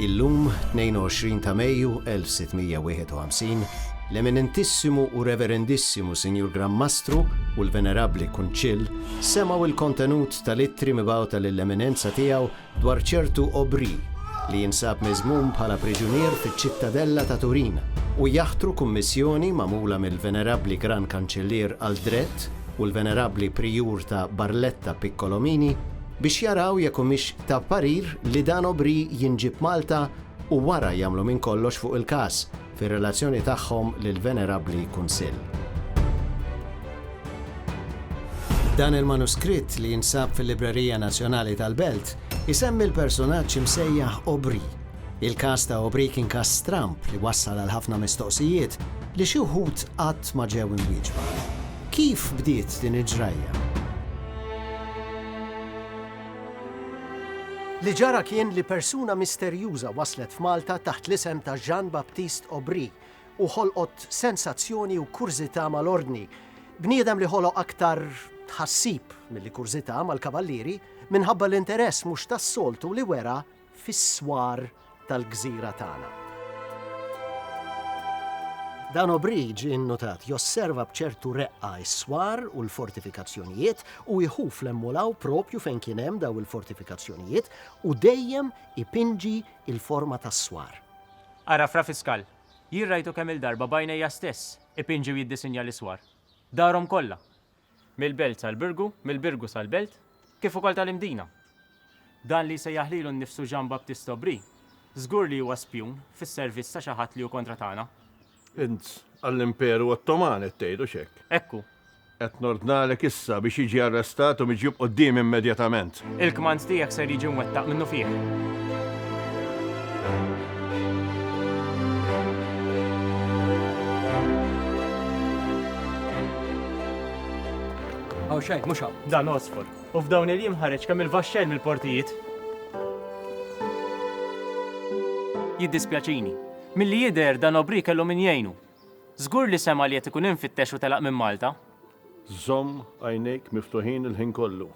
Illum, 22 ta' Mejju 1651, l-Eminentissimu u Reverendissimu Sinjur Gran Mastru u l-Venerabbli Kunċill semgħu l-kontenut tal-ittri mibgħuta lill-Eminenza Tiegħu dwar ċertu Aubry li jinsab miżmum bħala priġunier fiċ-Ċittadella ta' Turin, u jaħtru kummissjoni magħmula mill-Venerabbli Gran Kanċillier Aldret u l-Venerabbli Prijur ta' Barletta Piccolomini biex jaraw jekk humiex ta' parir li dan Aubry jinġieb Malta u wara jagħmlu minn kollox fuq il-każ, fir-relazzjoni tagħhom lill-Venerabbli Kunsill. Dan il-manuskritt li jinsab fil-Librerija Nazzjonali tal-Belt isemmi l-persunaġġ imsejjaħ Aubry. Il-każ ta' Aubry kien każ stramb li wassal għal ħafna mistoqsijiet li xi wħud qatt ma ġew imwieġba. Kif bdiet din il-ġrajja? Li ġara kien li persuna misterjuża waslet f'Malta taħt l-isem ta' Jean-Baptiste Aubry u ħolqot sensazzjoni u kurżità mal-Ordni. Bniedem li ħoloq aktar tħassib milli kurżità mal-Kavallieri minħabba l-interess mhux tas-soltu li wera fis-swar tal-gżira tagħna. Dan Obridge, innutat, josserva b'ċertu reqqa s-swar u l-fortifikazzjonijiet u jħu fl-emmolaw propju fejn kien hemm daw il-fortifikazzjonijiet u dejjem ipinġi il-forma tas-swar. Ara Fra Fiskal, jien rajtu kemm-il darba b'għajnejja stess ipinġi u jiddisinja l-iswar. Darhom kollha. mill-belt sal-birgu, mill-birgu sal-belt, kif ukoll tal-Imdina. Dan li jsejjaħ lilu nnifsu Jean Baptiste Aubry, żgur li huwa spjun fis-servizz ta' xi ħadd li hu kontra tagħna. Int għall-Imperu Ottoman qed tgħid, hux hekk? Hekk hu. Qed nordnalek issa biex jiġi arrestat u miġjub quddiemi immedjatament. Il-kmand tiegħek ser jiġi mwettaq minnufih. Hawn xejn, mhux hawn. Dan osfod. U f'dawn il-jiem ħareġ kemm il-vaxxell mill-portijiet. Jiddispjaċini. Milli jidher dan Obri kellu min jgħinu. Żgur li sema' li qed ikun imfittex u telaq minn Malta. Żomm għajnejk miftuħin il-ħin kollu.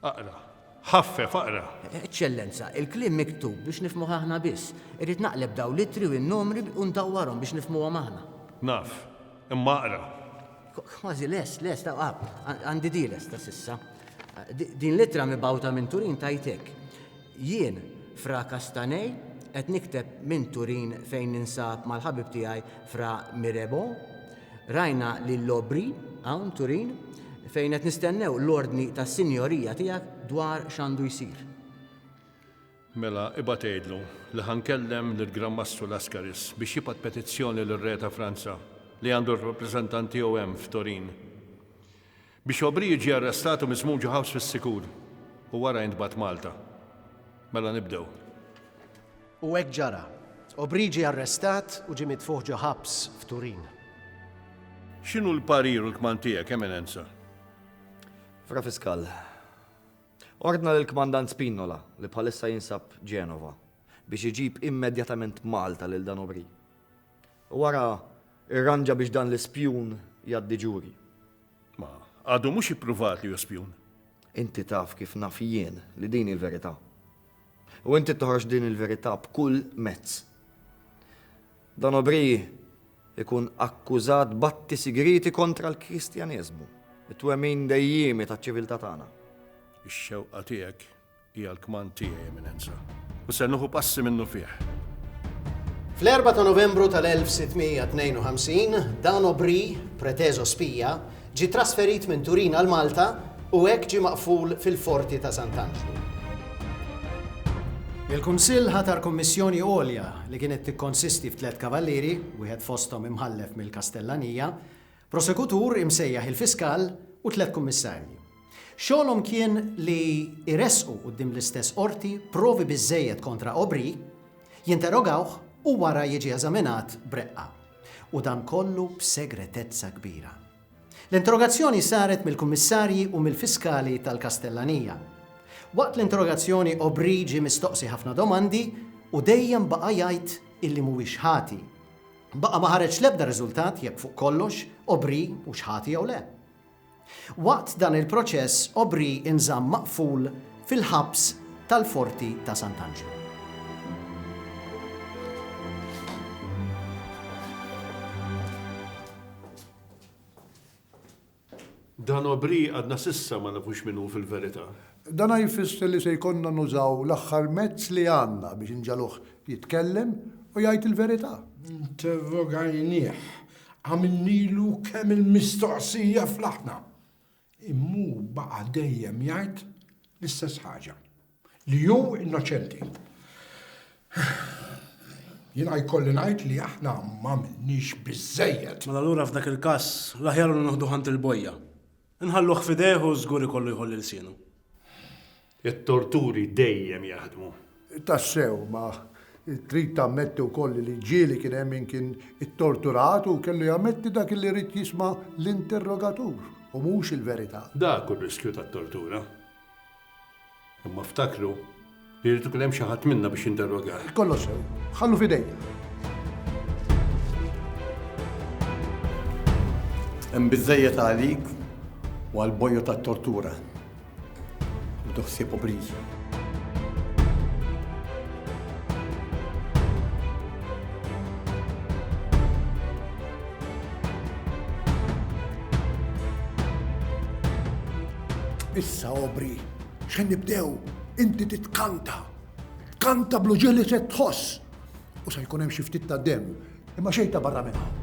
Aqra. Ħaffef, aqra. Eċċellenza, il-kliem miktub biex nifhmuh aħna biss. Irrid naqleb dawn l-ittri u n-numri u ndawwarhom biex nifhmuhom aħna. Naf. Imma aqra. Kważi lest, lest, għandi di lesta s'issa. Din l-ittra mibgħuta minn Turin tgħid hekk, Jien, Fra Castanei, qed nikteb minn Turin fejn ninsab mal-ħabib tiegħi Fra Mirebo. Rajna lil Aubry hawn Turin fejn qed nistennew l-ordni tas-Sinjorija tiegħek dwar x'għandu jsir. Mela, ibgħat għidlu li ħa nkellem lill-Gran Mastru Lascaris biex jibgħat petizzjoni lir-Re ta' Franza li għandu r-rappreżentant tiegħu hemm f'Turin. Biex O'Brien ġie arrestat u miżmum ġo ħabs fis-sikur u wara intbagħat Malta. Mela nibdew. U hekk ġara. O'Brien ġie arrestat u ġie mitfugħ ġo ħabs f'Turin. X'inhu l-parir u l-kmand tiegħek, Eminenza? Fra Fiskal, ordna lill-Kmandant Spinola, li bħalissa jinsab Genova, biex iġib immedjatament Malta lil dan O'Brien. U ara, irranġa biex dan l-ispjun jgħaddi ġuri. Ma, għadu mhux ippruvat li hu spjun. Inti taf kif naf jien li din hi l-verità. U inti toħroġ din il-verità b'kull mezz. Dan O'Brien ikun akkużat b'atti sigrieti kontra l-Kristjaneżmu, it-twemmin dejjiemi taċ-ċiviltà tagħna. Ix-xewqa tiegħek Hija l-kmand tiegħi, Eminenza, u ser nuħu passi minnufih. Fl-4 ta' Novembru tal-1652, Dan Aubry, preteżo spija, ġie trasferit minn Turin għal Malta u hekk ġie maqful fil-Forti ta' Sant'Anġlu. Il-Kunsill ħatar Kummissjoni Għolja li kienet tikkonsisti f'tliet kavallieri, wieħed fosthom imħallef mill-Kastellanija, Prosekutur imsejjaħ il-Fiskal u tliet Kummissarji. Xogħolhom kien li jressqu quddiem l-istess Qorti provi biżżejjed kontra Aubry, jinterogawh u wara jiġi eżaminat b'reqqa. U dan kollu b'segretezza kbira. L-interrogazzjoni saret mill-Kummissarji u mill-Fiskali tal-Kastellanija. Waqt l-interrogazzjoni Aubry ġie mistoqsi ħafna domandi u dejjem baqa' jgħid illi mhuwiex ħati. Baqa' ma ħareġ l-ebda riżultat jekk fuq kollox Obri hux ħati jew le. Waqt dan il-proċess Obri nżamm maqful fil-ħabs tal-Forti ta' Sant'Anġlu. Dan Aubry għadna s'issa ma nafux min hu fil-verità. Dan jfisser li se jkollna nużaw l-aħħar mezz li għandna biex inġagħluh jitkellem u jgħid il-verità. Interrogajnieh, għamilnilu kemm il-mistoqsija fl-aħna, imma hu baqa' dejjem jgħid l-istess ħaġa. Li hu innoċenti. Jiena jkolli ngħid li aħna m'għamilniex biżżejjed. Mela allura f'dak il-każ l-aħjar hu nieħduh għand il-bojja. Inħalluh f'idejh u żgur ikollu jħolli lsienu. It-torturi dejjem jaħdmu. Tassew, ma trid tammetti wkoll li l-ġieli kien hemm min kien ittorturat u kellu jammetti dak li ried jisma' l-interrogatur u mhux il-verità. Dak hu r-riskju tat-tortura. Imma ftakru li jrid ikun hemm xi ħadd minna biex jinterroga. Kollox sew, ħallu f'idejja. Hemm biżejjed għalik u għal bojju tat-tortura. U toħsieb obriżi. Issa obri, xen nibdew, inti titkanta. Tkanta blu ġili se tħoss. U se jkun hemm xi ftit ta' dem, imma xejn ta' barra minn hawn.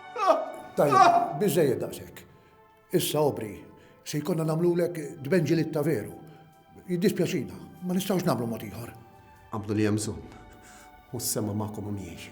Tajja, biżejjed daqshekk. Issa obri, se jkollna nagħmlulek dbenġilitta veru. Jiddispjaċina, ma nistgħux nagħmlu mod ieħor. Għamlu li hemm u s-sema magħkom u miegħi.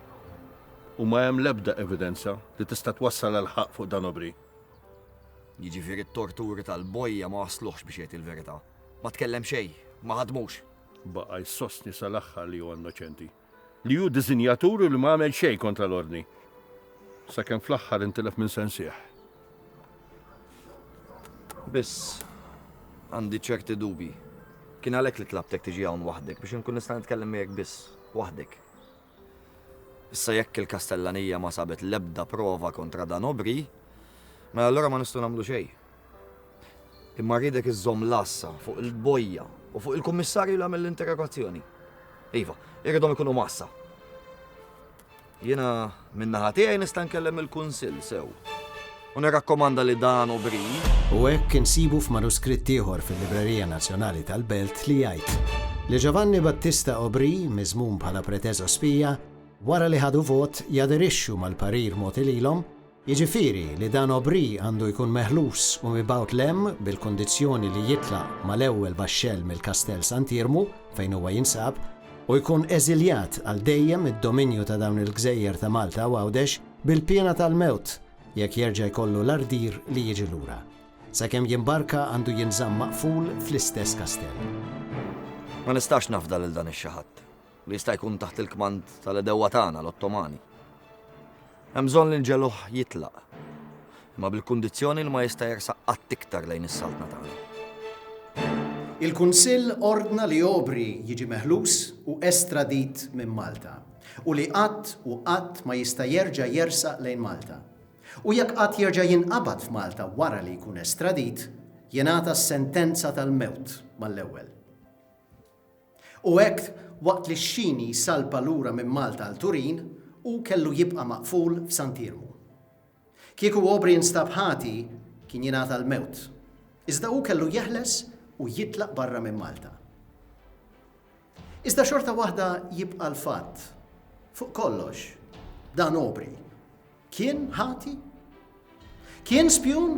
U ma hemm l-ebda evidenza li tista' twassal għall-ħaqq fuq dan Obri. Jiġifieri t-torturi tal-bojja ma wassluhx biex jgħid il-verità. Ma tkellem xejn, ma ħadmux. Baqa' jsostni sal-aħħar li huwa innoċenti. Li hu diżinjatur u li ma għamel xejn kontra l-Ordni. Sakemm fl-aħħar intilef minn sensih. Biss, għandi ċerti dubji. Kien għalhekk li tlabtek tiġi hawn waħdek, biex inkun nista' nitkellem miegħek biss, waħdek. Issa jekk il-Kastellanija ma sabet l-ebda prova kontra dan Obri, mela allura ma nistgħu nagħmlu xejn. Imma rridek iżżomm l-għassa fuq il-bojja u fuq il-kummissarju li għamel l-interrogazzjoni. Iva, irridhom ikunu massa. Jiena minnaħa tiegħi nista' nkellem il-kunsill sew. U nirrakkomanda li dan hu bri. U hekk insibu f'manuskritt ieħor fil-Librerija Nazzjonali tal-Belt li jgħid li Ġovanni Battista Obri, miżmum bħala preteżospija, wara li ħadu vot, jaderixxu mal-parir mogħti lilhom, jiġifieri li dan Obri għandu jkun meħlus u mibgħut 'l hemm bil-kundizzjoni li jitlaq mal-ewwel baxxell mill-Kastell Sant'Iermu fejn huwa jinsab u jkun eżiljat għal dejjem mid-dominju ta' dawn il-gżejjer ta' Malta u Għawdex. Bil-piena tal-mewt jekk jerġa' jkollu l-ardir li jiġi lura. Sakemm jimbarka għandu jinżamm maqful fl-istess kastell. Ma nistax nafda lil dan ix-xi ħadd, li jista' jkun taħt il-kmand tal-għedewwa tagħna, l-Ottomani. Hemm bżonn li nġegħluh jitlaq, imma bil-kundizzjoni li ma jista' jersaq qatt iktar lejn is-Saltna tagħna. Il-Kunsill ordna li Aubrey jiġi meħlus u estradit minn Malta. u li qatt u qatt ma jista' jerġa' jersaq lejn Malta. U jekk qatt jerġa' jinqabad f'Malta wara li jkun estradit, jingħata s-sentenza tal-mewt mal-ewwel. U hekk, waqt li x-xini jsalpa lura minn Malta għal Turin, hu kellu jibqa' maqful f'Sant'Iermu. Kieku Aubrey instab ħati, kien jingħata l-mewt. Iżda hu kellu jeħles u jitlaq barra minn Malta. Iżda xorta waħda jibqa' l-fatt, fuq kollox, dan Aubrey kien ħati? Kien spjun?